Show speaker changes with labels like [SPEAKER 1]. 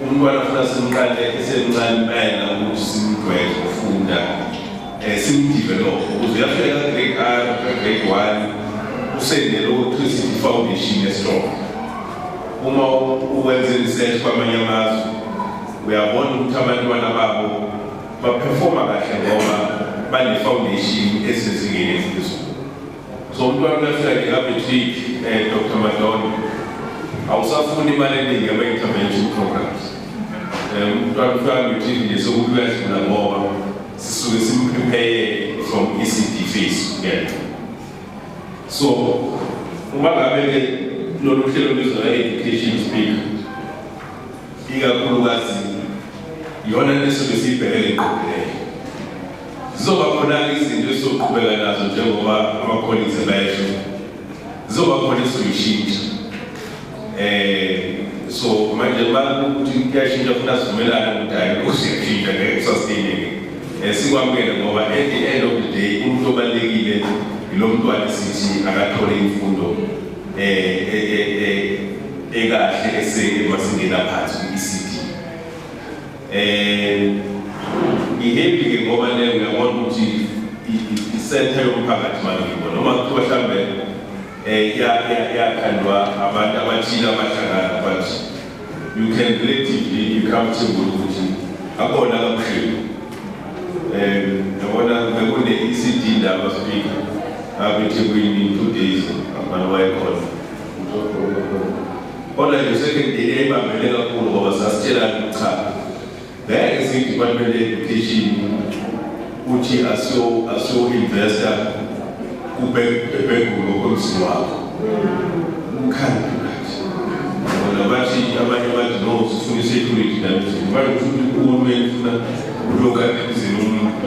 [SPEAKER 1] Umntwana funa simqale esemncane impela ukuthi simdwele ukufunda eh, simdevelop ukuze uyafika ka-grade r ka-grade one usendele ukuthi i-foundation estrong uma uwenze research kwamanye amazwe uyabona ukuthi abantwana babo baperforma kahle ngoba bane-foundation esezingeni eliphezulu So umntwana uyafika ngekabetrate um eh, Dr Madonna awusafuni imali eningi ama-intervention programs um eh, umntwana ufika betrate nje sokuthi uyadlula ngoba sisuke simprepare from ECD phase yena so uma ngabe-ke lolu hlelo lizwa education speak ikakhulukazi yona leso besiyibhekele ngqokileyo Zizoba khona-ke izinto esizoqhubeka nazo njengoba amakholithe besho zizoba khona esizoyishintsha um so manje makuthi kuyashintsha futhi asivumelane ukuthi hayi lokhu siyashintsha ngeke kusasteyineke um eh, sikwamukele ngoba at the end of the day umuntu obalulekile yilo mntwana sithi akathole imfundo um ekahle esemasingena phansi kwi-ecd Eh ngihebi ke ngoba le ngiyabona ukuthi isenthe yomphakathi manje ngibona noma kuthiwa mhlambe eh ya ya yakhandwa abantu abathile abahlangana but you can relatively you come to ukuthi akona kabuhlungu eh yabona bekune ECD ndaba speaker abethi kuyini two days abantu wayekhona Kodwa nje sekendeni yayibambele kakhulu ngoba sasitshelana ukuthi cha ngeke siyi-department education uthi asiyo-investa kubhekulu okomzini wakho umkhandlu kathi bona bathi abanye bathi no sifuna i-security namzini bathi uhulumeni funa ulokhu anemzini umuntu